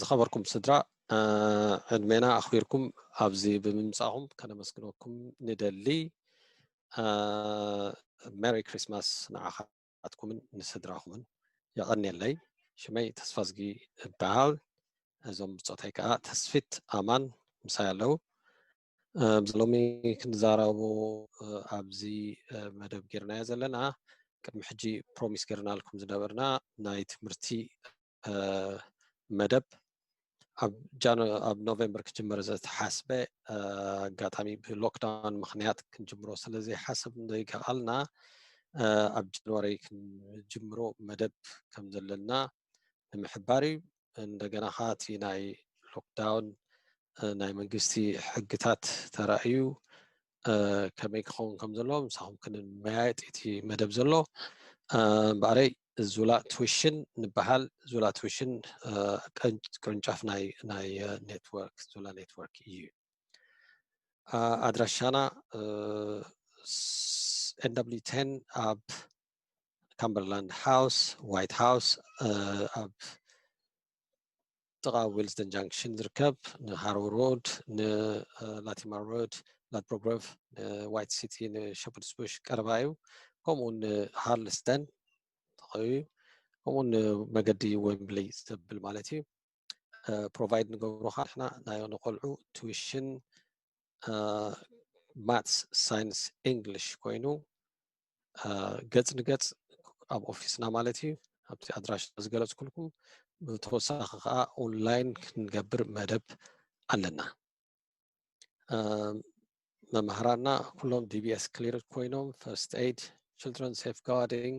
ዝኸበርኩም ስድራ ዕድሜና ኣኽቢርኩም ኣብዚ ብምምፃእኹም ከነመስግነኩም ንደሊ ሜሪ ክሪስማስ ንዓኻትኩምን ንስድራኹምን የቐንየለይ ሽመይ ተስፋዝጊ እበሃል እዞም ብፆተይ ከዓ ተስፊት ኣማን ምሳይ ኣለዉ ኣብዚ ሎሚ ክንዛረቡ ኣብዚ መደብ ጌርናዮ ዘለና ቅድሚ ሕጂ ፕሮሚስ ጌርናልኩም ዝነበርና ናይ ትምህርቲ መደብ ኣብ ጃኖ ኣብ ኖቨምበር ክጅመር ዝተሓስበ ኣጋጣሚ ብሎክዳውን ምክንያት ክንጅምሮ ስለ ዘይሓስብ ዘይከኣልና ኣብ ጃንዋሪ ክንጅምሮ መደብ ከም ዘለና ንምሕባር እዩ እንደገና ከዓ እቲ ናይ ሎክዳውን ናይ መንግስቲ ሕግታት ተራእዩ ከመይ ክኸውን ከም ዘለዎ ምሳኹም ክንመያየጥ እቲ መደብ ዘሎ እምበኣረይ ዙላ ትውሽን ንበሃል ዙላ ትውሽን ቅርንጫፍ ናይ ናይ ኔትወርክ ዙላ ኔትወርክ እዩ ኣድራሻና ኤንዳብሊዩ ቴን ኣብ ካምበርላንድ ሃውስ ዋይት ሃውስ ኣብ ጥቓ ዊልስተን ጃንክሽን ዝርከብ ንሃርወር ሮድ ንላቲማር ሮድ ላድፕሮግረቭ ንዋይት ሲቲ ንሸፐርድስ ቡሽ ቀረባ እዩ ከምኡ ንሃርልስተን ተኸዩ ከምኡ ንመገዲ ወምብሊ ዘብል ማለት እዩ ፕሮቫይድ ንገብሮ ከዓ ንሕና ናይ ንቆልዑ ቱዊሽን ማትስ ሳይንስ እንግሊሽ ኮይኑ ገፅ ንገፅ ኣብ ኦፊስና ማለት እዩ ኣብቲ ኣድራሽ ዝገለፅኩልኩም ብተወሳኺ ከዓ ኦንላይን ክንገብር መደብ ኣለና መምህራና ኩሎም ዲቢኤስ ክሊር ኮይኖም ፈርስት ኤድ ችልድረን ሴፍ ጋርዲንግ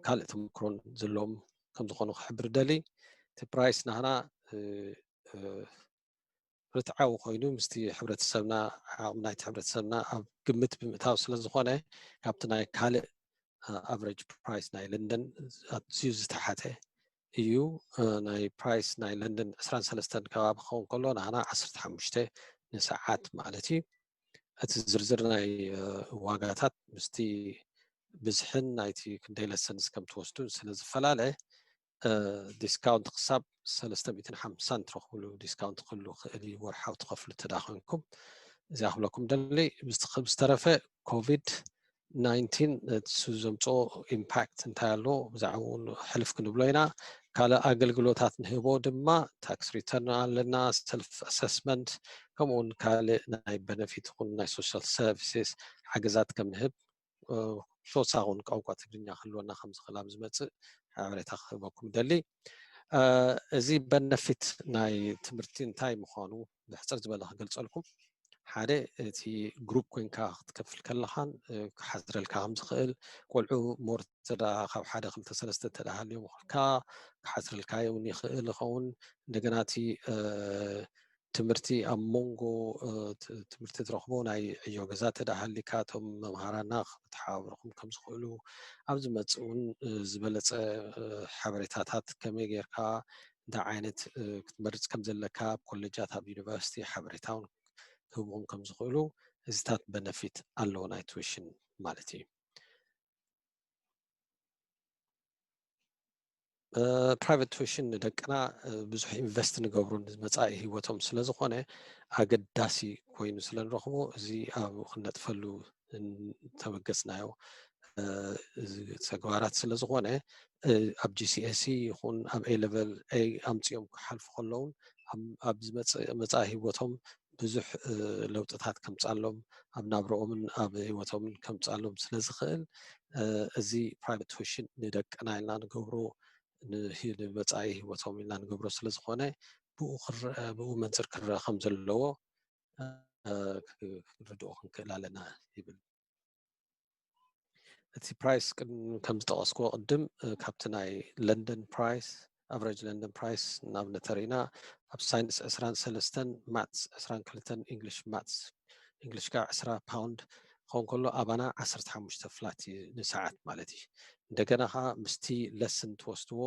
ካልእ ተመክሮን ዘለዎም ከም ዝኾኑ ክሕብር ደሊ እቲ ፕራይስ ናህና ርትዓዊ ኮይኑ ምስቲ ሕብረተሰብና ዓቕሚ ናይቲ ሕብረተሰብና ኣብ ግምት ብምእታው ስለ ዝኾነ ካብቲ ናይ ካልእ ኣቨሬጅ ፕራይስ ናይ ለንደን ኣዝዩ ዝተሓተ እዩ ናይ ፕራይስ ናይ ለንደን 23 ከባቢ ክኸውን ከሎ ንዓና 15 ንሰዓት ማለት እዩ እቲ ዝርዝር ናይ ዋጋታት ምስቲ ብዝሕን ናይቲ ክንደይ ለሰንስ ከም ትወስዱን ስለ ዝፈላለ ዲስካውንት ክሳብ ሰለስተ ሚእትን ሓምሳን ትረኽብሉ ዲስካውንት ክህሉ ክእል እዩ ወርሓዊ ትኸፍሉ እንተዳ ኮንኩም እዚኣ ክብለኩም ደሊ ብዝተረፈ ኮቪድ ናይንቲን እሱ ዘምፅኦ ኢምፓክት እንታይ ኣሎ ብዛዕባ እውን ሕልፍ ክንብሎ ኢና ካልእ ኣገልግሎታት ንህቦ ድማ ታክስ ሪተርን ኣለና ሰልፍ ኣሰስመንት ከምኡውን ካልእ ናይ በነፊት ኹን ናይ ሶሻል ሰርቪስስ ሓገዛት ከም ንህብ ተወሳኺ እውን ቋንቋ ትግርኛ ክህልወና ከም ዝኽእል ኣብ ዝመፅእ ሓበሬታ ክህበኩም ይደሊ እዚ በነፊት ናይ ትምህርቲ እንታይ ምዃኑ ብሕፅር ዝበለ ክገልፀልኩም ሓደ እቲ ግሩፕ ኮንካ ክትከፍል ከለኻን ክሓዝረልካ ከም ዝኽእል ቆልዑ ሞር ተዳ ካብ ሓደ ክልተ ሰለስተ ተዳሃልዮም ክልካ ክሓዝረልካ እውን ይኽእል ይኸውን እንደገና እቲ ትምህርቲ ኣብ ሞንጎ ትምህርቲ ትረኽቦ ናይ ዕዮ ገዛ እንተደኣ ሃሊካ እቶም መምሃራና ክተሓባብርኹም ከም ዝኽእሉ ኣብ ዝመጽእ እውን ዝበለጸ ሓበሬታታት ከመይ ጌርካ እንታይ ዓይነት ክትመርጽ ከም ዘለካ ኣብ ኮሌጃት ኣብ ዩኒቨርሲቲ ሓበሬታ እውን ክህብኹም ከም ዝኽእሉ እዚታት በነፊት ኣለዎ ናይ ቱዊሽን ማለት እዩ ፕራይቨት ቱሽን ንደቅና ብዙሕ ኢንቨስት ንገብሩ መፃኢ ሂወቶም ስለዝኾነ ኣገዳሲ ኮይኑ ስለንረኽቦ እዚ ኣብ ክነጥፈሉ ተበገፅናዮ ተግባራት ስለዝኾነ ኣብ ጂሲኤሲ ይኹን ኣብ ኤሌቨል ኣምፅኦም ክሓልፉ ከለውን ኣብ ዝመፅእ መፃኢ ሂወቶም ብዙሕ ለውጥታት ከምፃሎም ኣብ ናብረኦምን ኣብ ህይወቶምን ከምፃሎም ስለ ዝኽእል እዚ ፕራይቨት ቱሽን ንደቅና ኢልና ንገብሮ ንመፃኢ ህይወቶም ኢልና ንገብሮ ስለ ዝኾነ ብኡ ክረአ ብኡ መንፅር ክረአ ከም ዘለዎ ክንርድኦ ክንክእል ኣለና ይብል እቲ ፕራይስ ከም ዝጠቐስክዎ ቅድም ካብቲ ናይ ለንደን ፕራይስ ኣቨሬጅ ለንደን ፕራይስ ናብ ነተሪና ኣብ ሳይንስ ዕስራን ሰለስተን ማትስ ዕስራን ክልተን እንግሊሽ ማትስ እንግሊሽ ከዓ ዕስራ ፓውንድ ክኸውን ከሎ ኣባና ዓሰርተ ሓሙሽተ ፍላት እዩ ንሰዓት ማለት እዩ እንደገና ከዓ ምስቲ ለስን ትወስድዎ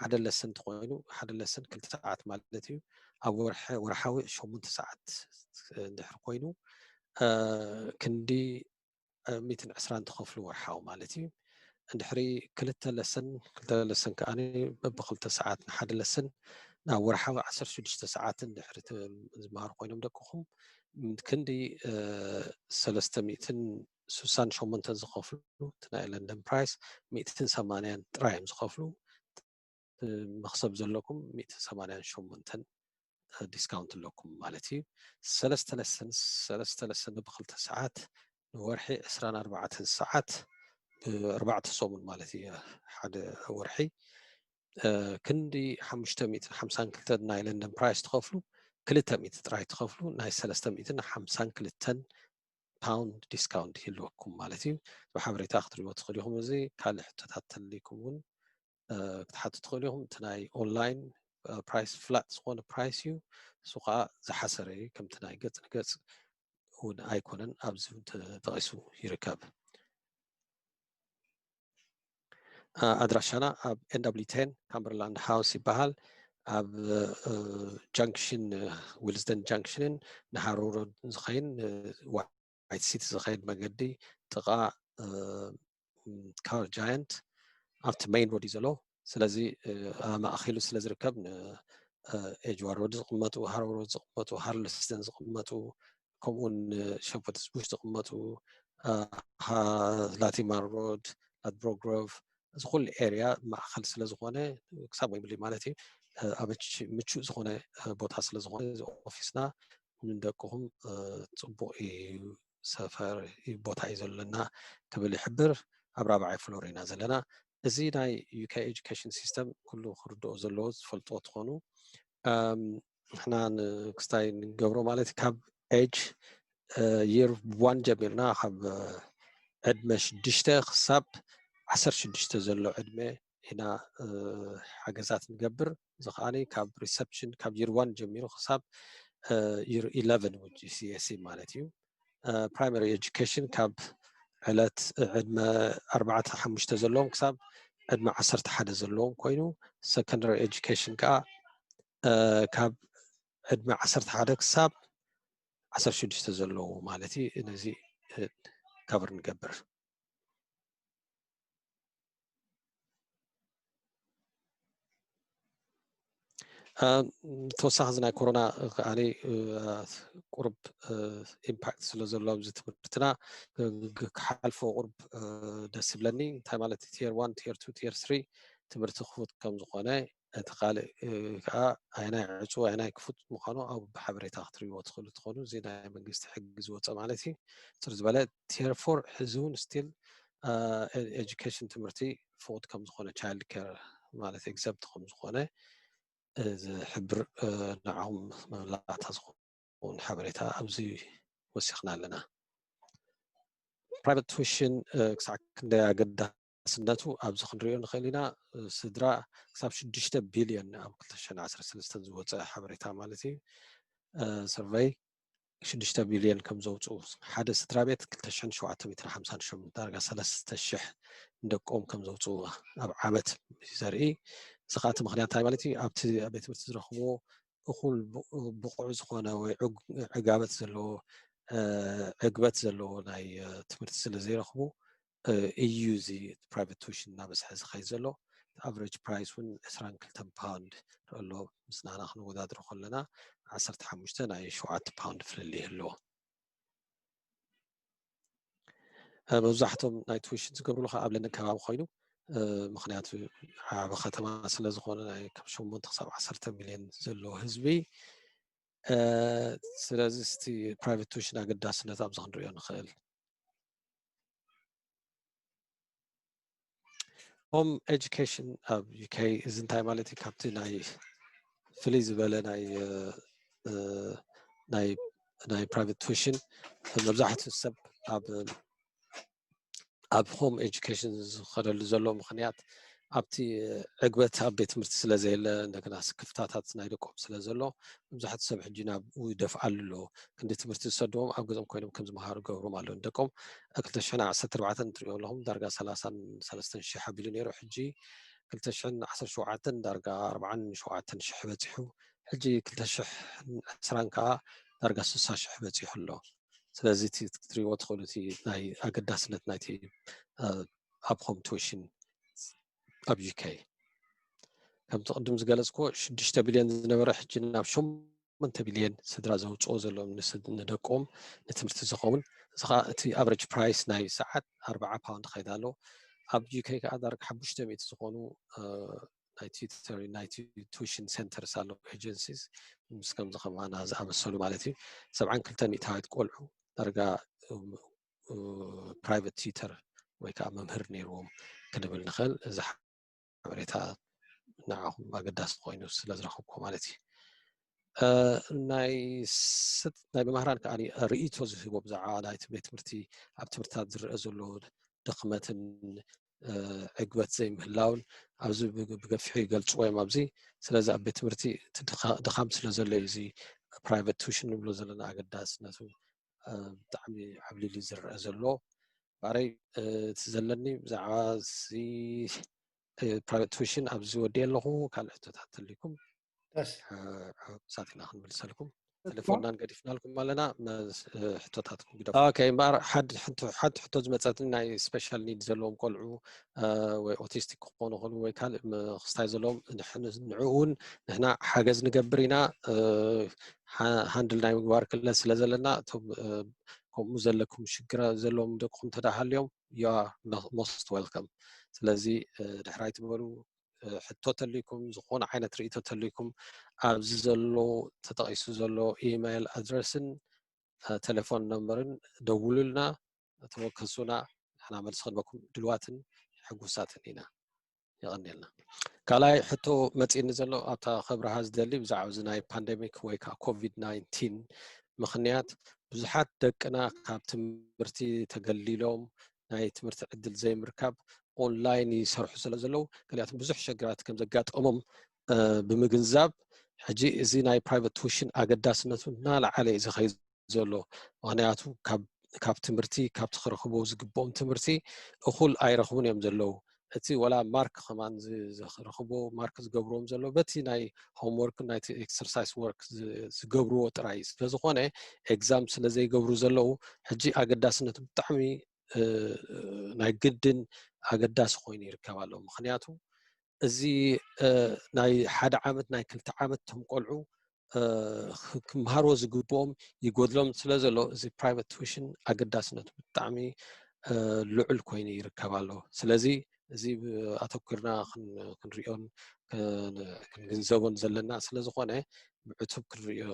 ሓደ ለስን እንትኮይኑ ሓደ ለስን ክልተ ሰዓት ማለት እዩ ኣብ ወርሓዊ ሸሙንተ ሰዓት እንድሕር ኮይኑ ክንዲ ሚትን ዕስራን ተኸፍሉ ወርሓዊ ማለት እዩ እንድሕሪ ክልተ ለስን ክልተ ለስን ከዓ በብክልተ ሰዓት ንሓደ ለስን ናብ ወርሓዊ ዓሰርተ ሽዱሽተ ሰዓትን ድሕሪ ዝመሃሩ ኮይኖም ደቅኹም ክንዲ ሰለስተ ሚእትን ስሳን ሸሞንተን ዝኸፍሉ እቲ ናይ ለንደን ፕራይስ ሚእትን ሰማንያን ጥራይ እዮም ዝኸፍሉ መኽሰብ ዘለኩም ሚእቲ ሰማንያን ሸሞንተን ዲስካውንት ኣለኩም ማለት እዩ ሰለስተ ለሰን ሰለስተ ለሰን ብክልተ ሰዓት ንወርሒ ዕስራን ኣርባዕተን ሰዓት ብኣርባዕተ ሰሙን ማለት እዩ ሓደ ወርሒ ክንዲ ሓሙሽተ ሚእትን ሓምሳን ክልተን ናይ ለንደን ፕራይስ ትኸፍሉ ክልተ ሚእቲ ጥራይ ትኸፍሉ ናይ ሰለስተ ሚእትን ሓምሳን ክልተን ፓውንድ ዲስካውንት ይህልወኩም ማለት እዩ ብሓበሬታ ክትሪእዎ ትኽእል ኢኹም እዚ ካልእ ሕቶታት ተልይኩም እውን ክትሓቱ ትኽእሉ ኢኹም እቲ ናይ ኦንላይን ፕራይስ ፍላጥ ዝኾነ ፕራይስ እዩ እሱ ከዓ ዝሓሰረ እዩ ከምቲ ናይ ገፅ ንገፅ እውን ኣይኮነን ኣብዚ ተጠቂሱ ይርከብ ኣድራሻና ኣብ ኤንዳብሊ ቴን ካምበርላንድ ሃውስ ይበሃል ኣብ ጃንክሽን ዊልስደን ጃንክሽንን ንሃሮሮድ ዝኸይን ዋይት ሲቲ ዝኸይድ መገዲ ጥቓ ካር ጃየንት ኣብቲ መይን ሮድ እዩ ዘሎ ስለዚ ማእኪሉ ስለ ዝርከብ ኤጅዋ ሮድ ዝቕመጡ ሃሮ ሮድ ዝቕመጡ ሃርልስተን ዝቕመጡ ከምኡውን ሸፐርትስ ቡሽ ዝቕመጡ ላቲማር ሮድ ላትብሮግሮቭ እዚ ኩሉ ኤርያ ማእከል ስለ ዝኾነ ክሳብ ወይብሊ ማለት እዩ ኣብ ምቹእ ዝኾነ ቦታ ስለ ዝኾነ እዚ ኦፊስና ንደቅኹም ፅቡቕ ሰፈር ቦታ እዩ ዘለና ክብል ይሕብር ኣብ ራብዓይ ፍሎር ኢና ዘለና እዚ ናይ ዩካ ኤጁኬሽን ሲስተም ኩሉ ክርድኦ ዘለዎ ዝፈልጦ ትኾኑ ንሕና ክስታይ ንገብሮ ማለት እዩ ካብ ኤጅ ይር ዋን ጀሚርና ካብ ዕድመ ሽዱሽተ ክሳብ ዓሰርተ ሽዱሽተ ዘሎ ዕድመ ኢና ሓገዛት ንገብር እዚ ከዓ ካብ ሪሰፕሽን ካብ ይር ዋን ጀሚሩ ክሳብ ይር ኢለቨን ውን ጂሲኤሲ ማለት እዩ ፕራይማሪ ኤጁኬሽን ካብ ዕለት ዕድመ ኣርባዕተ ሓሙሽተ ዘለዎም ክሳብ ዕድመ ዓሰርተ ሓደ ዘለዎም ኮይኑ ሰኮንዳሪ ኤጁኬሽን ከዓ ካብ ዕድመ ዓሰርተ ሓደ ክሳብ ዓሰርተ ሽዱሽተ ዘለዎ ማለት እዩ ነዚ ከብር ንገብር ተወሳኺ እዚ ናይ ኮሮና ከዓ ቁርብ ኢምፓክት ስለ ዘሎ ኣብዚ ትምህርትና ክሓልፎ ቁርብ ደስ ይብለኒ እንታይ ማለት ቲር ዋን ቲር ቱ ቲር ስሪ ትምህርቲ ክፉት ከም ዝኾነ እቲ ካልእ ከዓ ኣየናይ ዕፁው ኣየናይ ክፉት ምዃኑ ኣብ ሓበሬታ ክትሪእዎ ትኽእሉ ትኾኑ እዚ ናይ መንግስቲ ሕጊ ዝወፀ ማለት እዩ ፅር ዝበለ ቴርፎር ሕዚ እውን ስቲል ኤጁኬሽን ትምህርቲ ፍቁድ ከም ዝኾነ ቻይልድ ኬር ማለት ኤግዘፕት ከም ዝኾነ ዝሕብር ንዓኹም መብላዕታ ዝኸውን ሓበሬታ ኣብዚ ወሲኽና ኣለና ፕራይቨት ቱሽን ክሳዕ ክንደይ ኣገዳ ውሕስነቱ ኣብዚ ክንሪኦ ንኽእል ኢና ስድራ ክሳብ ሽዱሽተ ቢልዮን ኣብ ክልተ ሽሕን ዓሰርተ ሰለስተን ዝወፀ ሓበሬታ ማለት እዩ ሰርቨይ ሽዱሽተ ቢልዮን ከም ዘውፅኡ ሓደ ስድራ ቤት ክልተ ሽሕን ሸውዓተ ሚትን ሓምሳን ሸሞንተ ዳርጋ ሰለስተ ሽሕ ንደቆም ከም ዘውፅኡ ኣብ ዓመት ዘርኢ እዚ ከዓ እቲ ምክንያት እንታይ ማለት እዩ ኣብቲ ኣብ ቤት ትምህርቲ ዝረኽብዎ እኹል ብቑዕ ዝኾነ ወይ ዕጋበት ዘለዎ ዕግበት ዘለዎ ናይ ትምህርቲ ስለ ዘይረኽቡ ኢዩ እዚ ፕራይቨት ቱሽን እናበዝሐ ዝኸይድ ዘሎ እቲ ኣቨሬጅ ፕራይስ እውን ዕስራን ክልተን ፓውንድ ኣሎ ምስ ናህና ክንወዳድሮ ከለና ዓሰርተ ሓሙሽተ ናይ ሸውዓተ ፓውንድ ፍልል ይህልዎ መብዛሕቶም ናይ ቱሽን ዝገብርሉ ከዓ ኣብ ለንደን ከባቢ ኮይኑ ምክንያቱ ዓበ ከተማ ስለ ዝኾነ ናይ ካብ ሸሞንተ ክሳብ ዓሰርተ ሚልዮን ዘለዎ ህዝቢ ስለዚ እቲ ፕራይቨት ቱሽን ኣገዳስነት ኣብዚ ክንሪኦ ንኽእል ሆም ኤጁኬሽን ኣብ ዩኬ እዚ እንታይ ማለት እዩ ካብቲ ናይ ፍልይ ዝበለ ናይ ናይ ናይ ፕራይቨት ቱሽን መብዛሕትኡ ሰብ ኣብ ኣብ ሆም ኤጁኬሽን ዝኸደሉ ዘሎ ምክንያት ኣብቲ ዕግበት ኣብ ቤት ትምህርቲ ስለ ዘየለ እንደገና ስክፍታታት ናይ ደቆም ስለ ዘሎ መብዛሕትኡ ሰብ ሕጂ ናብኡ ይደፍኣሉ ኣሎ ክንዲ ትምህርቲ ዝሰድዎም ኣብ ገዝኦም ኮይኖም ከም ዝመሃሩ ገብሮም ኣሎ ንደቆም ክልተ ሽሕን ዓሰርተ ኣርባዕተን እትሪኦ ኣለኹም ዳርጋ ሰላሳን ሰለስተን ሽሕ ኣቢሉ ነይሩ ሕጂ ክልተ ሽሕን ዓሰርተ ሸውዓተን ዳርጋ ኣርብዓን ሸውዓተን ሽሕ በፂሑ ሕጂ ክልተ ሽሕን ዕስራን ከዓ ዳርጋ ስሳ ሽሕ በፂሑ ኣሎ ስለዚ እቲ ክትሪእዎ ትኽእሉ እቲ ናይ ኣገዳስነት ናይቲ ኣብ ሆም ቱሽን ኣብ ዩኬ ከምቲ ቅድም ዝገለፅኩ ሽዱሽተ ቢልዮን ዝነበረ ሕጂ ናብ ሸሞንተ ቢልዮን ስድራ ዘውፅኦ ዘሎ ንደቆም ንትምህርቲ ዝኸውን እዚ ከዓ እቲ ኣቨሬጅ ፕራይስ ናይ ሰዓት ኣርበዓ ፓውንድ ከይዳ ኣሎ ኣብ ዩኬ ከዓ ዳርጋ ሓሙሽተ ሚእቲ ዝኾኑ ናይ ቲዩተር ናይ ቱሽን ሴንተርስ ኣሎ ኤጀንሲስ ምስ ከምዚ ከማና ዝኣመሰሉ ማለት እዩ ሰብዓን ክልተ ሚእታዊት ቆልዑ ዳርጋ ፕራይቨት ቲዩተር ወይ ከዓ መምህር ነይርዎም ክንብል ንኽእል እዚ ሓበሬታ ንዓኹም ኣገዳሲ ኮይኑ ስለ ዝረኸብኩ ማለት እዩ ናይ ስት ናይ መምህራን ከዓ ርእቶ ዝህቦ ብዛዕባ ናይ ቤት ትምህርቲ ኣብ ትምህርትታት ዝረአ ዘሎ ድኽመትን ዕግበት ዘይምህላውን ኣብዚ ብገፊሑ ይገልፅዎ እዮም ኣብዚ ስለዚ ኣብ ቤት ትምህርቲ ድኻም ስለ ዘሎ እዩ እዚ ፕራይቨት ቱሽን ንብሎ ዘለና ኣገዳስነቱ ብጣዕሚ ዓብሊሉ እዩ ዝረኣ ዘሎ ባዕለይ እቲ ዘለኒ ብዛዕባ ካልእ ትውሽን ኣብዚ ወዲኤ ኣለኹ ካልእ ሕቶታት ተልይኩም ሳት ኢና ክንምልሰልኩም ቴሌፎንናን ገዲፍናልኩም ኣለና ሕቶታትኩም ግደ እምበኣር ሓንቲ ሕቶ ዝመፀትኒ ናይ ስፔሻል ኒድ ዘለዎም ቆልዑ ወይ ኦቲስቲክ ክኾኑ ኸሉ ወይ ካልእ ክስታይ ዘለዎም ንዕኡ እውን ንሕና ሓገዝ ንገብር ኢና ሃንድል ናይ ምግባር ክለት ስለ ዘለና እቶም ከምኡ ዘለኩም ሽግር ዘለዎም ደቅኹም እንተ ሃልዮም ዩ ሞስት ወልከም ስለዚ ድሕር ኣይትበሉ ሕቶ ተልይኩም ዝኾነ ዓይነት ርእቶ ተልይኩም ኣብዚ ዘሎ ተጠቒሱ ዘሎ ኢማይል ኣድረስን ቴሌፎን ነምበርን ደውሉልና ተወከሱና ንሕና መልሲ ክንበኩም ድልዋትን ሕጉሳትን ኢና የቀንየልና ካልኣይ ሕቶ መፂኒ ዘሎ ኣብታ ከብርሃ ዝደሊ ብዛዕባ እዚ ናይ ፓንደሚክ ወይ ከዓ ኮቪድ ናይንቲን ምክንያት ብዙሓት ደቅና ካብ ትምህርቲ ተገሊሎም ናይ ትምህርቲ ዕድል ዘይምርካብ ኦንላይን ይሰርሑ ስለ ዘለዉ ገሊኣቶም ብዙሕ ሸግራት ከም ዘጋጠሞም ብምግንዛብ ሕጂ እዚ ናይ ፕራይቨት ቱሽን ኣገዳስነቱ እናለዓለ እዩ ዝኸይድ ዘሎ ምክንያቱ ካብ ትምህርቲ ካብቲ ክረክቦ ዝግብኦም ትምህርቲ እኩል ኣይረክቡን እዮም ዘለዉ እቲ ወላ ማርክ ከማ ዝረክቦ ማርክ ዝገብርዎም ዘሎ በቲ ናይ ሆምወርክ ናይ ኤክሰርሳይስ ወርክ ዝገብርዎ ጥራይ ስለዝኮነ ኤግዛም ስለዘይገብሩ ዘለዉ ሕጂ ኣገዳስነት ብጣዕሚ ናይ ግድን ኣገዳሲ ኮይኑ ይርከብ ኣሎ ምክንያቱ እዚ ናይ ሓደ ዓመት ናይ ክልተ ዓመት ቶም ቆልዑ ክምሃርዎ ዝግብኦም ይጎድሎም ስለ ዘሎ እዚ ፕራይቨት ቱሽን ኣገዳስነቱ ብጣዕሚ ልዑል ኮይኑ ይርከብ ኣሎ ስለዚ እዚ ኣተኪርና ክንሪኦን ክንግንዘቦን ዘለና ስለ ዝኾነ ብዕቱብ ክንሪኦ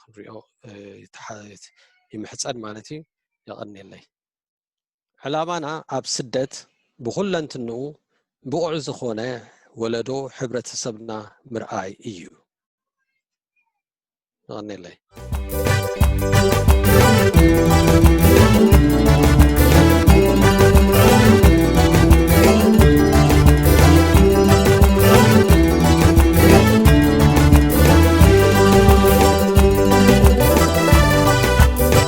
ክንሪኦ ይምሕፀን ማለት እዩ የቐኒየለይ ዕላማና ኣብ ስደት ብኹለንትንኡ ብቑዕ ዝኾነ ወለዶ ሕብረተሰብና ምርኣይ እዩ ይቐኒለይ